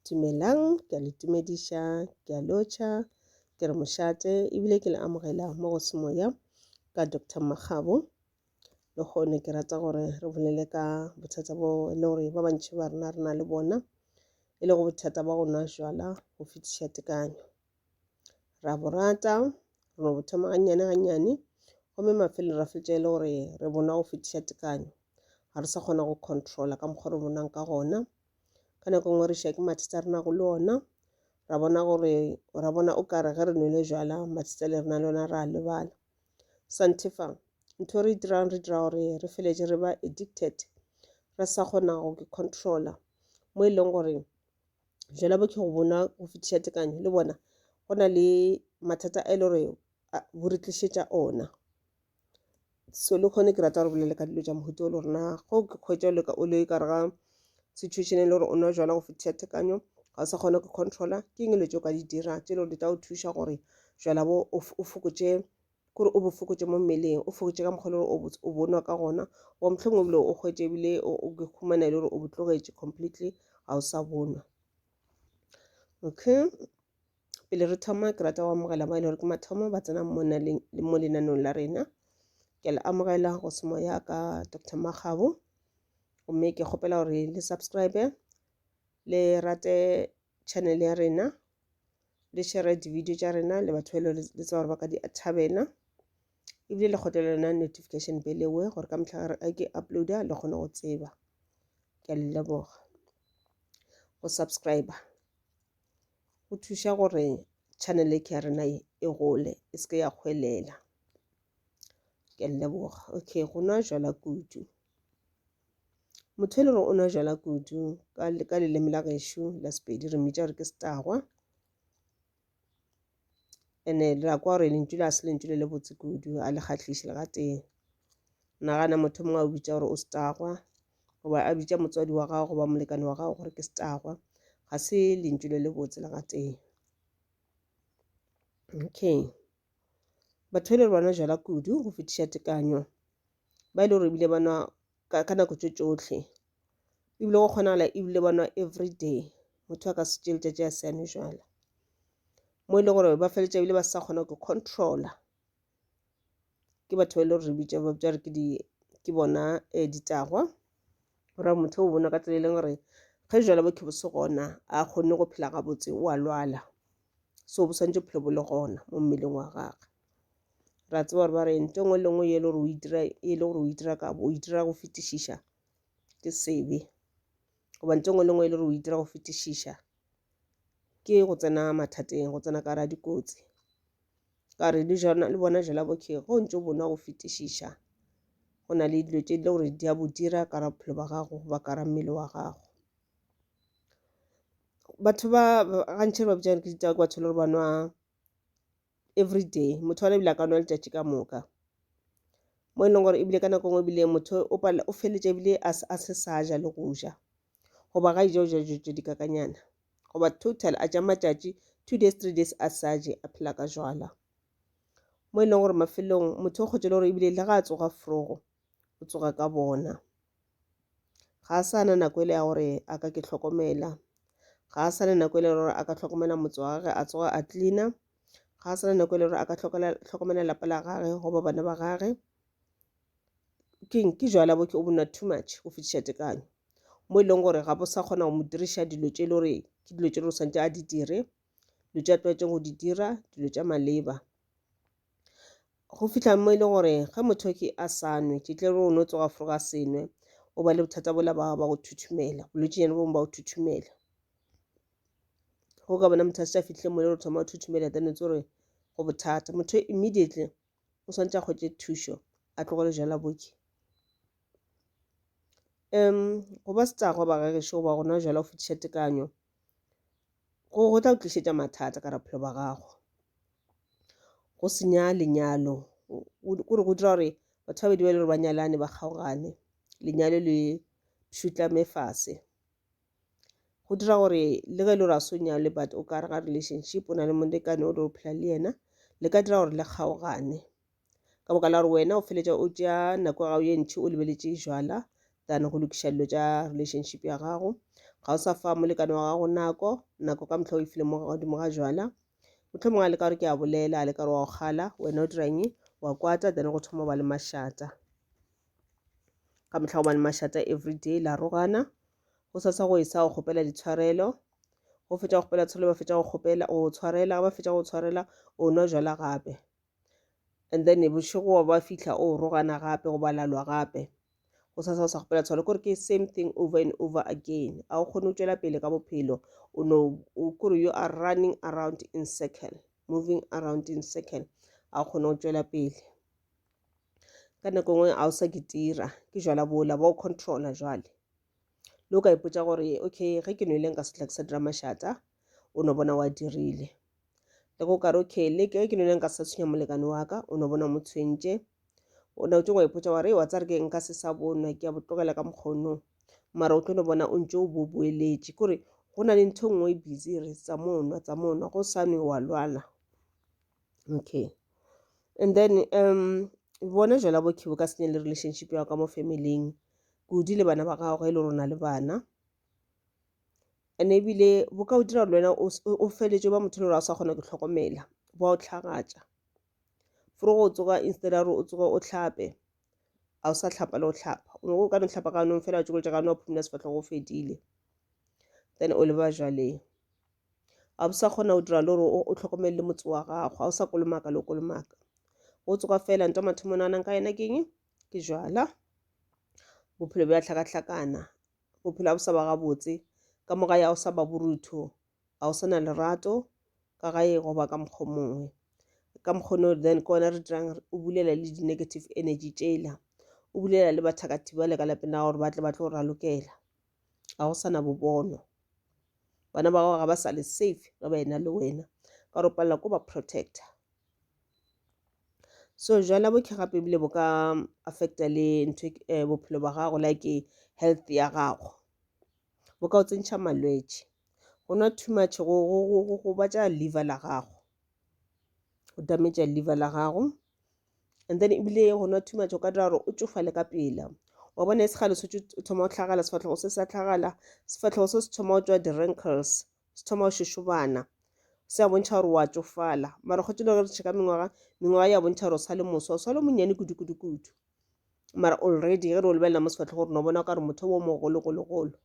Dumelang, ke a le tumediša, ke a lotšha, ke re mošate ebile ke le amogela mo go semoya ka Doctor Makgabo. Le gone ke rata gore re bolele ka bothata bo e le gore ba bantši ba rena re na le bona e le go bothata ba go nwa jwala go fetiša tekanyo. ra bo rata re bo thoma gannyane gannyane gomme mafelo ra fetša e le gore re bona go fetiša tekanyo ga re sa kgona go controla ka mokgwa re bonang ka gona ka nako nngwe re ša ke mathata re nago le ona ra bona gore ra bona o kare ge re nwele jala mathata le rena le ona ra lebala santefa ntho re e dirang re dira gore re feletse re ba addicted re sa kgona go controla mo e leng gore jela bo ke go bona go fetiša tekanyo le bona go na le mathata a e le gore bo re tlišetša ona so le kgone ke rata gore bolele ka dilo tša mohuta o le gorena go ke kgwetša o leka o le ka rega situation e le gore o nwa jala go fetiša tekanyo ga o sa kgona go controla ke eng dilo tse o ka di dira tse e le gore di tla o thuša gore jala bo o fokotše kore o bo fokotše mo mmeleng o fokotše ka mokgwa le gore o bonwa ka gona wa mohlomong ebile o kgwetše ebile o khumana e le gore o botlogetše completely ga o sa bonwa okay pele re thoma ke rata go amogela ba e le gore ke mathomo ba tsena mo lenanong la rena ke le amogela go semo ya ka dr magabo gomme ke kgopela gore le subscribe le rate channel ya rena le share di-video tša rena le batho ba le tseba gore ba ka di thabela ebile le kgotlele lona notification belewe gore ka mehla re ke uploada le kgone go tseba ke a le leboga go subscriber go thuša gore channel e ke ya rena e gole e se ke ya kgwelela ke a le leboga okay go nwa jala kudu motho e le gore o nwa jala kudu ka leleme la gešo la sepedi re mmitša gore ke setagwa ene le la kwa gore lentšu la se lentšu le le botse kudu a le kgatlhiše le gatee nagana motho mongwe a o bitša gore o setagwa goba a bitša motswadi wa gago goba molekane wa gago gore ke setagwa ga se lentšu le le botse le gatee okay batho e le re bona jala kudu go fetiša tekanyo ba e le gore ebile ba nwa ka nako tso tsotlhe ebile go kgonagala ebile ba nwa everyday motho a ka se tse letsatsi a siane jala mo e le gore ba feleletsa ebile ba sa kgona go controla ke batho ba e le gore re bitsa ba bitsa re ke di ke bona um ditagwa gore motho o bona ka tsela e leng gore ge jala bo khebo se gona a kgonne go phela gabotse o a lwala so bo swantse bophelo bo le gona mo mmeleng wa gagwe ra tseba gore ba re nto ngwe le ngwe e le gore o itira ka bo o itira go fetišiša ke sebe goba nto ngwe le ngwe e le gore o itira go fetišiša ke go tsena mathateng go tsena ka ra dikotsi ka re le jona le bona jela bokhe go ntse o bona go fetišiša go na le dilo tse di le gore di a bo dira ka ra bophelo ba gago ba ka ra mmele wa gago batho ba gantšhe ba bitšang ke ditaba ke batho le gore ba nwa every day motho wana ebile a ka nwa letšatši ka moka mo e leng gore ebile ka nako e nngwe ebile motho o feletša ebile a se sa ja le go ja goba ga ija o ja dijo tše dikakanyana goba total a ja matšatši two days three days a sa je a phela ka jwala mo e leng gore mafelong motho o kgotšele gore ebile le ga a tsoga frogo o tsoga ka bona ga a sa na nako e le ya gore a ka ke tlhokomela ga a sa na nako e le gore a ka tlhokomela motse wa gage a tsoga a cleana ga a sa na nako e le gore a ka tlhokomela lapa la gage goba bana ba gage keng ke jwala bo ke o bona too much go fetiša tekanyo mo e leng gore ga bo sa kgona go mo diriša dilo tše e le gore ke dilo tše le gore santse a di dire dilo tše a tlwaetseng go di dira dilo tša maleba go fihla mo e le gore ge motho ke a sa nwe ke tle o no tsoga foroga senwe o ba le bothata bola ba ba go thuthumela bolwetse jane bongwe ba go thuthumela go ka bona motho a se a fitlhile mo le gore thoma go thuthumela then o tse gore go bothata motho immediately o swantse a kgwetse thušo a tlogole jala boki um go ba setsago ba gagešo goba gona jala go fetiša tekanyo go tla go tlišetša mathata ka ra bophelo ba gago go senya lenyalo kore go dira gore batho ba bedi ba le gore ba nyalane ba kgaogane lenyalo le šutla mefase go dira gore le ge e le gore a so nyale but o ka re ga relationship o na le molekane o le o phela le yena le ka dira gore le kgaogane ka boka la gore wena o feletša o tšea nako ya gago ye ntšhi o lebeletše jala than go lokiša dilo tša relationship ya gago ga o sa fa molekane wa gago nako nako ka motlha o e file mo godimo ga jala motlho mongwe a leka gore ke a bolela a leka gore wa go kgala wena o dirang wa kwata then go thoma ba le mašata ka motlha go ba le mašata every day la rogana go sa sa go e sa go kgopela ditshwarelo go fetša go kgopela tshwarelo ba fetša go kgopela go tshwarela ba fetša go tshwarela o nwa jala gape and then bošego wa ba fihla o rogana gape go balalwa gape go sa sa sa gopela tshwalo kore ke same thing over and over again a o kgone go tšwela pele ka bophelo o no kore you are running around in circle moving around in circle a o kgone go tšwela pele ka nako nngwe a o sa ke tira ke jala bola ba o controla jwale le o ka ipotsa gore okay ge ke nwele nka setla ke sa dira mašata o no bona wa dirile le go kare okay le ke ke none nka sa tshwenya molekane wa ka o no bona mo tshwentše o ne o tšengwa ipotsa wa re wa tsare ke nka se sa bonwa ke ya botlogela ka mokgono mara o tlo no bona o ntse o bo boeletše kore go na le ntho e nngwe e busy re tsa monwa tsa monwa go sa nwe wa lwala okay and then um bona jela bokhibo ka senye le relationship ya ka mo famileng kudu le bana ba gagwe e le rona le bana and-e ebile bo ka go dira le wena o feleletse o ba motho le gore ga o sa kgona go itlhokomela ba go tlhagatša for go tsoga instead ya gore o tsoge o tlhape ga o sa tlhapa le go tlhapa o nyako o ka no tlhapa ka nong fela wa tšokole tša ka no wa phumula sefatlhego o fedile then o leba jaleng ga o sa kgona go dira le gore o tlhokomele le motse wa gago ga o sa kolomaka le o kolomaka o tsoga fela nto mathomo naganang ka yena ke eng ke jwala bophelo bja hlakahlakana bophelo ga bo sa ba gabotse ka moga ya o sa ba borutho ga o sa na lerato ka gae goba ka mokgwa mongwe ka mokgono then ke ona re dirang o bulela le di-negative energy tšela o bulela le bathakati ba le ka lapeng la gore ba tle ba tlo ralokela ga go sa na bobono bana ba gago ga ba sa le safe ge ba ena le wena ka gore o palela ko ba protector so jwale bohle gape ebile bo ka affecta le ntho eh, bophelo ba gago like health ya gago bo ka o tsentšha malwetši go nwa too much go, go, go, go, go batša liver la gago go dametša liver la gago and then ebile go nwa too much o ka dira gore o tšofale ka pela wa bona e segale se o thoma go tlhagala sefatlhego se sa tlhagala sefatlhego se se thoma go tswa di-rankles se thoma go šošobana se a bontšha gore wa tsofala mara kgotse le gore re tšheka mengwaga mengwaga ya bontšha gore o sa le moswa o sa le monnyane kudu-kudu-kudu mara already ge re o lebelela mo sefatlhe gore no bona ka gore motho o mogologologolo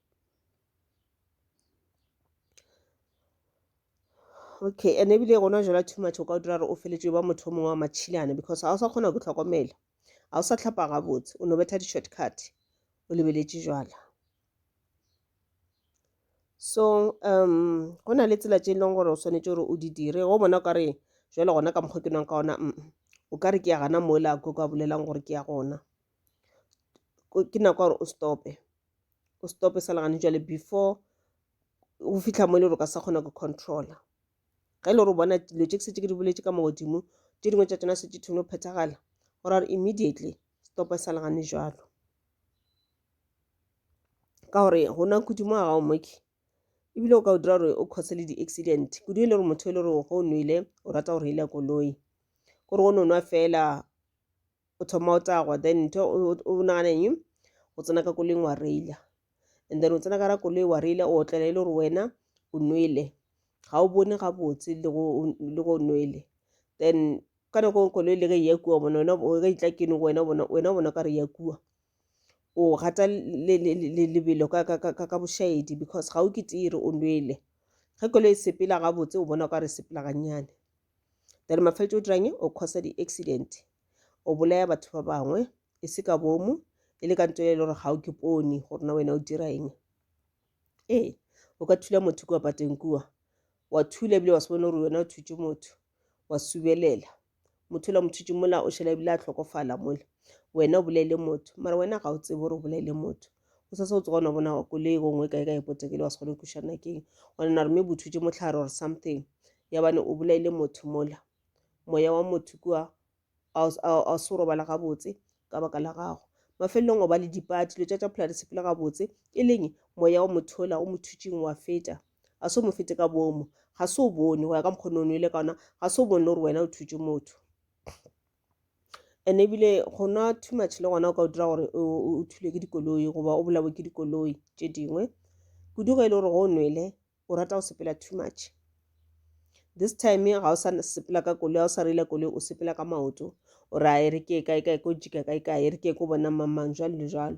okay and ebile gona jala too much o ka o dira gore o feletse ba motho o mongwe wa matšhilane because ga o sa kgona go tlhokomela ga o sa tlhapa gabotse o no betha di-shortcut o lebeletše jala so um go na le tsela tše e leng gore o swanetše gore o di dire go bona o ka re jalo gona ka mokgwa ke nwang ka ona mm o ka re ke ya gana moela ko ka bolelang gore ke ya gona ke nako gore o stope o stope sa legane jale before o fitlha mo e le gore o ka sa kgona go controla ge e le gore o bona dilo tše ke setse ke di boletse ka mogodimo tše dingwe tša tsona se tše thone go phethagala gore immediately stope sa legane jalo ka gore go nwa kudu mo ga o moke ebile o ka o dira gore o cause le di-accident kudu e le gore motho e le gore go o nwele o rata go reila koloi kore o no nwa fela o thoma o tagwa then ntho o nagana eng o tsena ka koloing wa reila and then o tsena ka ra koloi wa reila o otlela e le gore wena o nwele ga o bone gabotse le go o nwele then ka nako koloi le ge e ya kua bona wena o ka itla keno wena bona wena bona ka re ya kua o gata lebelo ka bošaedi because ga o ke tee re o nwele ge koloi e sepela gabotse o bona o ka re sepela gannyane then mafeletša o dirang o causa di-accident o bolaya batho ba bangwe e se ka bomo e le ka nto e le gore ga o ke pone gore na wena o dira eng ee o ka thula motho kua pateng kua wa thula ebile wa se bone gore wena o thutše motho wa subelela motho la mothutši mola o šhela ebile a hlokofala mola wena o bolaile motho mara wena ga o tsebe gore o bolaile motho o sa se o tsogona bona wa koloi go ngwe kae ka e potekele wa se kgone kušana keng gona na re me bothutši motlhare or something yabane o bolaile motho mola moya wa motho kua ga se robala gabotse ka baka la gago mafelelong o ba le dipati dilo tša tša phela di sepele gabotse e leng moya wa mothola o mothutšing wa feta ga se o mo fete ka bomo ga se o bone go ya ka mokgone o nwele ka ona ga se o bone le gore wena o thutše motho and ebile go nwa too much le gona o ka o dira gore o thule ke dikoloi goba o bolawe ke dikoloi tše dingwe kudu ge e le gore go o nwele o rata go sepela too much this time ga o sa sepela ka koloi ga o sa reila koloi o sepela ka maoto o ra e re ke e kae kae ko jika kae kae e re ke ko bona mamang jalo le jalo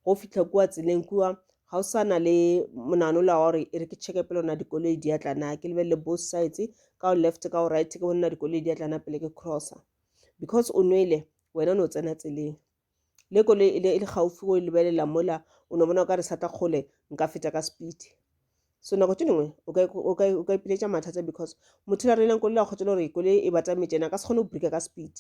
go fitlha kua tseleng kua ga o sana le monano la gore e re ke checke pele ona dikoloi di atlana ke lebelele both sides ka o left ka o right ke bona dikoloi di atlana pele ke crossa because o nwele wena o ne o tsena tseleng Le koloi e le, e le gaufi go e lebelela mola o no bona o ka re sata kgole nka feta ka speed so nako tše dingwe o ka ipiletša mathata because motho la reileng koloi la kgotela gore koloi e batametše ena ka se kgone go brika ka speed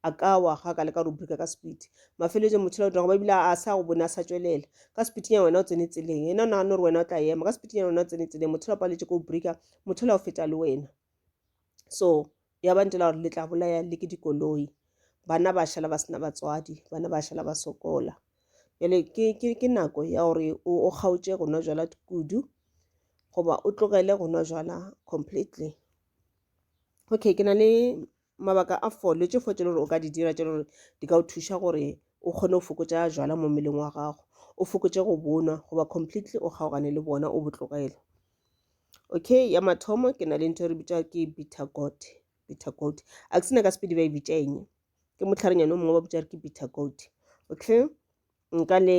a ka wa ga ka leka go brika ka speed mafeletse motho la dirago ba ebile a sa go bone a sa tšwelela ka speed ya wena o tsene tseleng ena o nagana gore wena o tla ema ka speed ya wena o tsene tseleng motho la paletse ko brika motho la o feta le wena so ya ba ntela gore le tla bolaya le ke dikoloi bana ba šala ba sena batswadi bana ba šala ba sokola jale ke nako ya gore o kgaotše go nwa jala kudu goba o tlogele go nwa jala completely okay ke na le mabaka a fo le tše fo tše le gore o ka di dira tše le gore di ka o thuša gore o kgone go fokotša jwala mo mmeleng wa gago o fokotše go bonwa goba completely o kgaogane le bona o botlogele okay ya mathomo ke na le ntho e re bitša ke bitter goat bitter goat a ke sena ka sepedi ba e bitša eng ke motlharenyane o mongwe ba bitša re ke bitter goat okay nka le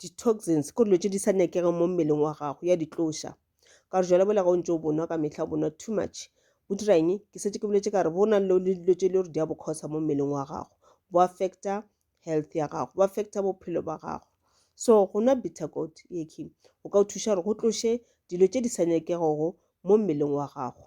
di-toxins ke dilo tše di sa nyakegeng mo mmeleng wa gago ya ditloša ka gore jale bola ga o ntse o bonwa ka mehla o bonwa too much bo dira eng ke setse ke boletse ka re bo na le dilo tše e le gore di a bokgosa mo mmeleng wa gago bo affecta health ya gago bo affecta bophelo ba gago so go nwa bitter goat eke o ka o thuša gore go tloše dilo tše di sa nyakegego mo mmeleng wa gago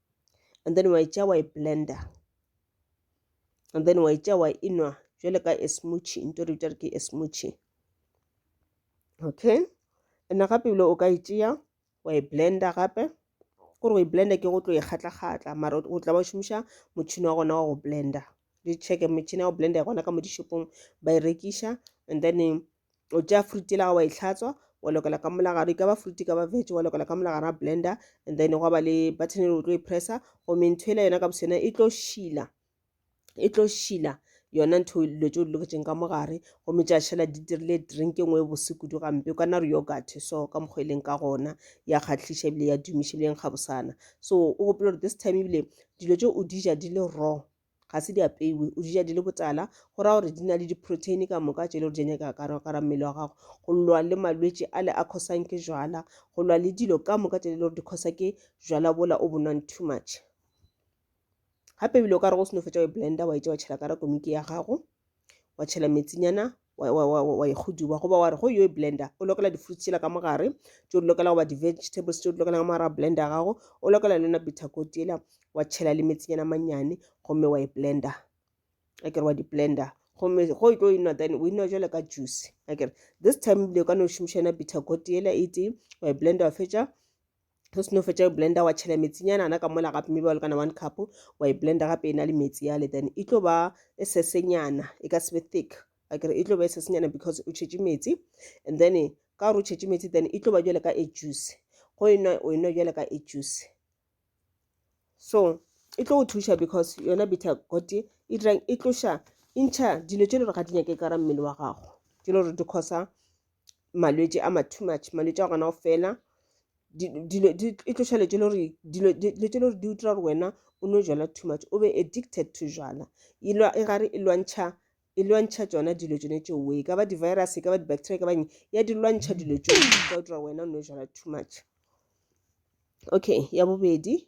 and then wa e tšea wa e blender and then wa e tšea wa e nwa jwale ka e smoothie nto re bitša re ke e smoothie okay ena gape ebile o ka e tšea wa e blender gape gore go e blender ke go tlo e kgatla-kgatla mara o tla ba šomiša motšhini wa gona wa go blender di checke metšhini ya go blender gona ka mo dishopong ba e rekiša and then o tšea fruit e laga wa e tlhatswa wa lokela ka molagaro e ka ba fruit e ka ba veg wa lokela ka molagaro a blender and then gwa ba le button e o tlo e pressa gomme ntho e la yona ka bose yona e tlo šila e tlo šila yona ntho dilo tse o di loketseng ka mogare gomme tša šela di dirile drink e nngwe e bose kudu gampe o ka nna re yogat so ka mokgwa e leng ka gona ya kgatlhiša ebile ya dumiša ebile ya nkgabosana so o gopela gore this time ebile dilo tse o di ja di le raw ga se di apeiwe o dija di le botala go ra gore di na le diproteine ka moka tše le gore di nyaka karakara mmele wa gago go lwa le malwetši a le a khosang ke jwala go lwa le dilo ka moka tše le gore di khosa ke jwala bola o bonwang too much gape ebile o ka re go seno fetsa wa e blender wa e tša wa tšhela kara komiki ya gago wa tšhela metsinyana wa e kgoduba goba wa re go yo e blender o lokela di-fruits tšela ka mogare tšeo di lokela goba di-vegetables tšeo di lokela ka mogare wa blender ya gago o lokela le yona bitter goat ela wa tšhela le metsinyana mannyane gomme wa e blender a kere wa di-blender gomme go e tlo e nwa then o e nwa jale ka juice a kere this time le ka no šomiša yona bitter goat ela e tee wa e blender wa fetša o seno fetša e blender wa tšhela metsinyana ana ka mola gape maybe wa lekana one cup wa e blender gape e na le metsi yale then e tlo ba e sesenyana e ka sebe thick akere e tlo ba e sesenyana because o tšhetše metsi and then ka gore o tšhetše metsi then e tlo ba jale ka e juice go e nwa o e nwa jale ka e juice so e tlo go thuša because yona bitter got e dirang e tloša e ntšha dilo tše le gore ga di nyake ka ra mmele wa gago tše le gore di causa malwetši a ma too much malwetši a gona go fela dilo e tloša letše le gore dilo tše le gore di utlwa gore wena o no jala too much o be addicted to jala e gare e lwantšha e lwantšha tsona dilo tsone tšeo e ka ba di-virus e ka ba di-bacteria e ka ba eng ya di lwantšha dilo tšeo ka utlwa wena o no jala too much okay ya bobedi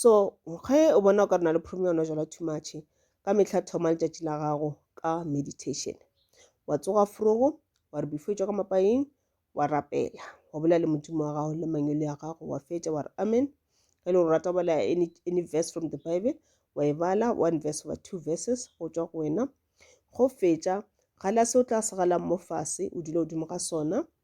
so ge o bona o ka re na le problem ya ona jala too much ka mehla thoma letšatši la gago ka meditation wa tsoga frogo wa re before tšwa ka mapaeng wa rapela wa bolela le modimo wa gago le mangwele ya gago wa fetša wa re amen ge e le gore rata go bala any, any verse from the bible wa e bala one verse over two verses go tšwa go wena go fetša gala se o tla se galang mo fase o dula godimo ga sona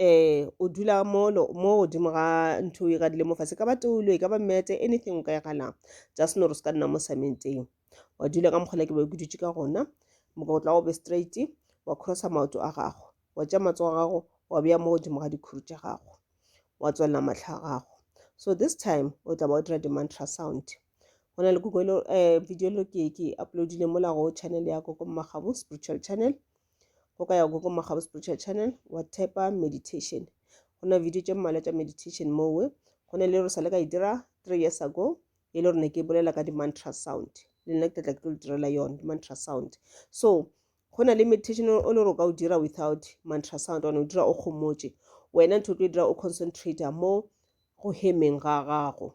um o dula mono mo godimo ga ntho e gadile mo fase ka ba toulo e ka ba mete anything o ka e galang just nore o se ka nna mo samenteng wa dula ka mokgola ke be ke dutse ka gona mokotla o be straight wa crossa maoto a gago wa tša matsogo a gago wa beya mo godimo ga dikhuru tša gago wa tswalela matlha a gago so this time o tla ba o dira di-mantra sound go na le google um video lo ke ke uploadile mola go channel ya koko mmagabu spiritual channel go ka ya go go magabo spiritual channel wa thepa meditation go na video tše mmalwa tša meditation mowe go na le re sa le ka e dira three years ago e le rone ke bolela ka di-mantra sound le nna ke tlatla ke tlo le direla yone di-mantra sound so go na le meditation o le gore o ka o dira without mantra sound one o dira o kgomotše wena ntho o tlo e dira o concentrator mo go hemeng ga gago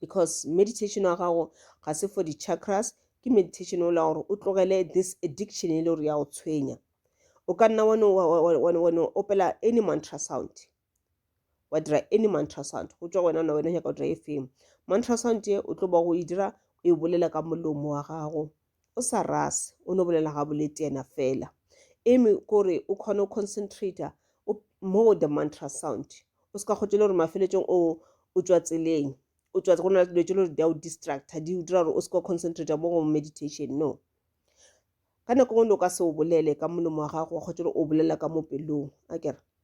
because meditation wa gago ga se for di-chakras ke meditation o la gore o tlogele this addiction e le gore ya go tshwenya o ka nna wano opela any mantra sound wa dira any mantra sound go tswa wena ona wena nyaka go dira e feng mantra sound ye o tlo ba go e dira o e bolela ka molomo wa gago o sa rase o no bolela ga bolete yena fela eme kore o kgone o concentrata mo the mantra sound o se ka kgotse le gore mafeletsong o o tswa tseleng o tswa go na dilo tse le gore di a o distracta di o dira gore o se ka concentrata mo go meditation no ka nako ngwe o ka se o bolele ka molomo wa gago wa kgotse gore o bolela ka mo pelong a kere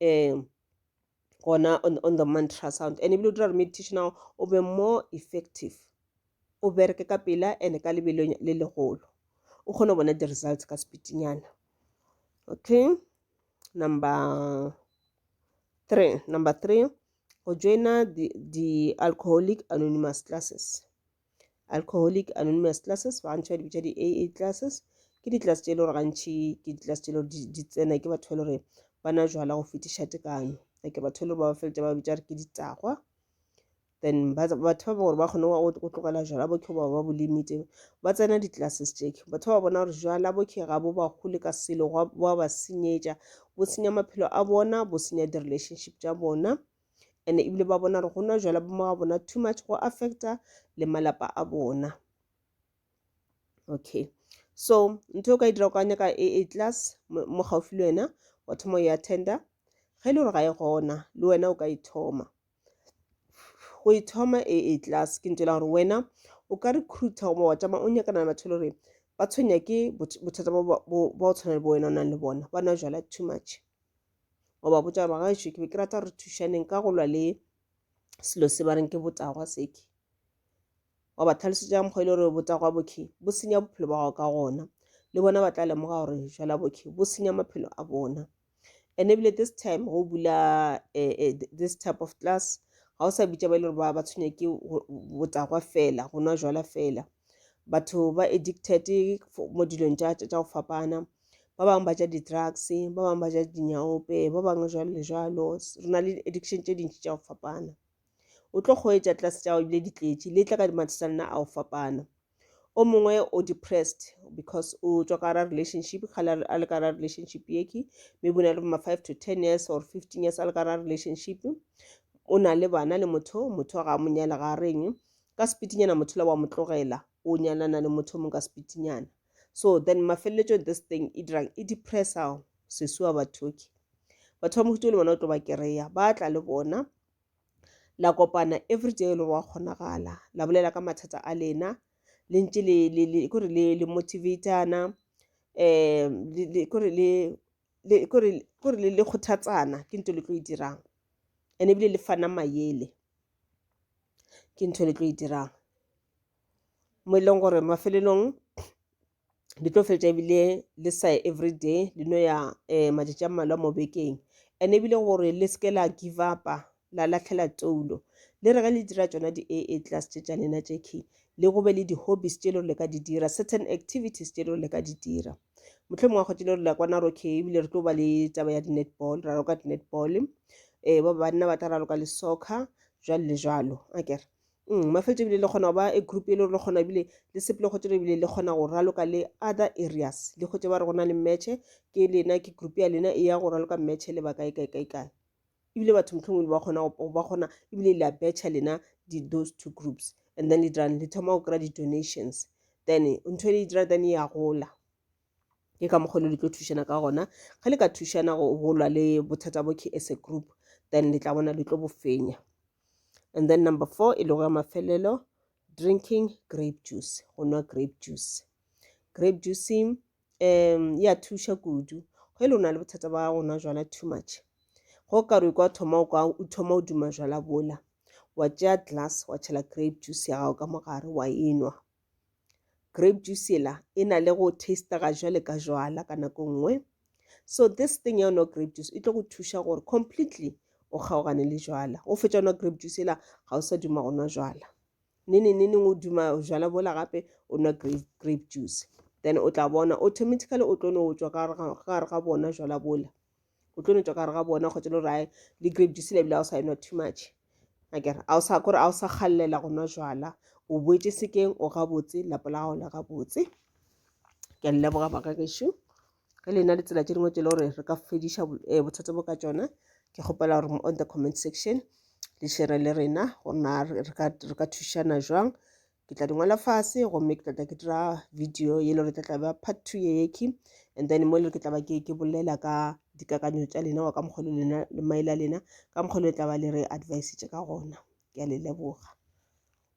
um gona on, on the mantra sound and ebile o dira gore meditation ao o be more effective o bereke ka pela and ka lebelo le legolo o kgone go bona di-results ka speedinyana okay number three number three go joina the, the alcoholic anonymous classes Alcoholic Anonymous Classes, ba gantši ba di bitša di-AA classes. Ke di-class tše e le gore gantši ke di-class tše e le gore di- di tsena ke batho ba e le gore ba na jwala go fetiša tekanyo like batho e le gore ba ba feletša ba bitša gore ke ditagwa then ba- batho ba gore ba kgone go go tlogela jwala bo ba ba bo limite ba tsena di-classes tše batho ba bona gore jwala bo ga bo ba gole ka selo gwa- bo a ba senyetša bo senya maphelo a bona bo senya di-relationship tša bona and ebile ba bona gore go nwa jwala bo ga bona too much go affecta le malapa a bona okay so ntho o ka e dira o ka nyaka e, e class mo gaufi le wena wa thoma ya tender ge e le gore ga e gona le wena o ka e thoma go e thoma e, e class ke ntela gore wena o ka recruiter goba wa tšama o nyakana le batho le gore ba tshwenya ke bothata ba o tshwana le bo wena o nang le bona ba nwa jala too much wa ba botša gore bagaešo ke be ke rata re thušaneng ka go lwa le selo se ba reng ke botagwa seke wa ba tlhalosetša mokgwa e le gore botagwa bokhe bo senya bophelo ba gago ka gona le bona ba tla lemoga gore jala bokhe bo senya maphelo a bona and ebile this time go bula eh, eh, this type of class ga o sa bitša ba e le gore ba tshwenya ke botagwa fela go nwa jala fela batho ba addicted mo dilong tša tša go fapana ba bangwe ba ja di-drugs ba bangwe ba ja dinyaope ba bangwe jalo le jalo re na le addiction tše dintši tša go fapana o tlo kgweetša tlase tša go bile ditletši le tla ka dimathata nna a go fapana o mongwe o depressed because o tswa ka ra relationship kgale a le ka ra relationship yeke maybe o na le ma five to ten years or fifteen years a le ka ra relationship o na le bana le motho motho ga a monyela ga reng ka sepitinyana motho la wa mo tlogela o nyanana le motho mong ka sepitinyana so then mafeleletsong this thing e dirang e depressa sesuwa bathoki batho ba mohuto le bona o tlo ba kereya ba tla le bona la kopana every day e le gore wa kgonagala la bolela ka mathata a lena le ntse kore le motivatana um kore le kgothatsana ke nto le tlo e dirang and ebile le fana mayele ke ntho le tlo e dirang mo e leng gore mafelelong le tlo fetša ebile le sa every day le no ya um matšatši a mmalwa mo bekeng and ebile gore le seke la give upa la latlhela toulo le re ge le dira tsona di-a a class tše tša lena tše key le go be le di-hobbies tše e le gore le ka di dira certain activities tše e le gore le ka di dira mohlomongwe wa kgwetile re la kwa naroke ebile re tlo ba le taba ya di-netball ra roka di-netball um eh, ba banna ba tla ra roka le soccer jalo le jalo akere mm, mafetso ebile le kgona go ba e group e le gore le kgona ebile le sepele kgwetše ebile le kgona go raloka le other areas le kgwetše ba re go na le matche ke lena ke group ya lena e ya go raloka matche le ba kae kae kae kae ebile batho motlhongwe le ba kgona go ba kgona ebile le a betšha lena di those two groups and then le dirang le thoma go kry-a di-donations then ntho e le dira then e ya gola ke ka mokgwa le le tlo thušana ka gona ge le ka thušana go bolwa le bothata bo ke as a group then le tla bona le tlo bo fenya and then number four e lego ya mafelelo drinking grape juice go nwa grape juice grape juicing um e a thuša kudu go e le o na le bothata ba go nwa jwala too much go ka re kwa thoma o kwa o thoma o duma jwala bola wa tšea glass wa tšhela grape juice ya gago ka mogare wa enwa grape juice ela e na le go tastega jwale ka jwala ka nako nngwe so this thing ya nwa grape juice e tlo go thuša gore completely o kgaogane le jwala o fetša nwa grape juice ela ga o sa duma go nwa jwala nini nini o duma jala bola gape o nwa grape, grape juice then o tla bona automatically o tlo no tswa ka gare ga bona jala bola o tlo no tswa ka gare ga bona kgotsa lo rae le grape juice lebile ga o sa enwa too much akere a o sa kore a o sa galela go nwa jala o boetse sekeng o gabotse lapa la gago la gabotse ke a leboga baka gešo ge le na le tsela tše dingwe tše le gore re ka fediša eh, bothata bo ka tšona ke kgopela gore on the comment section le šere le rena gore na re ka thušana jwang ke tla di ngwala fase gomme ke tlatla ke dira video ye le gore tla tlabe part two ye yeke and then mo le ke tlaba ke ke bolela ka dikakanyo tša lena wa ka mokgwa le lena le maele a lena ka mokgwa le tlaba le re advice tše ka gona ke a le leboga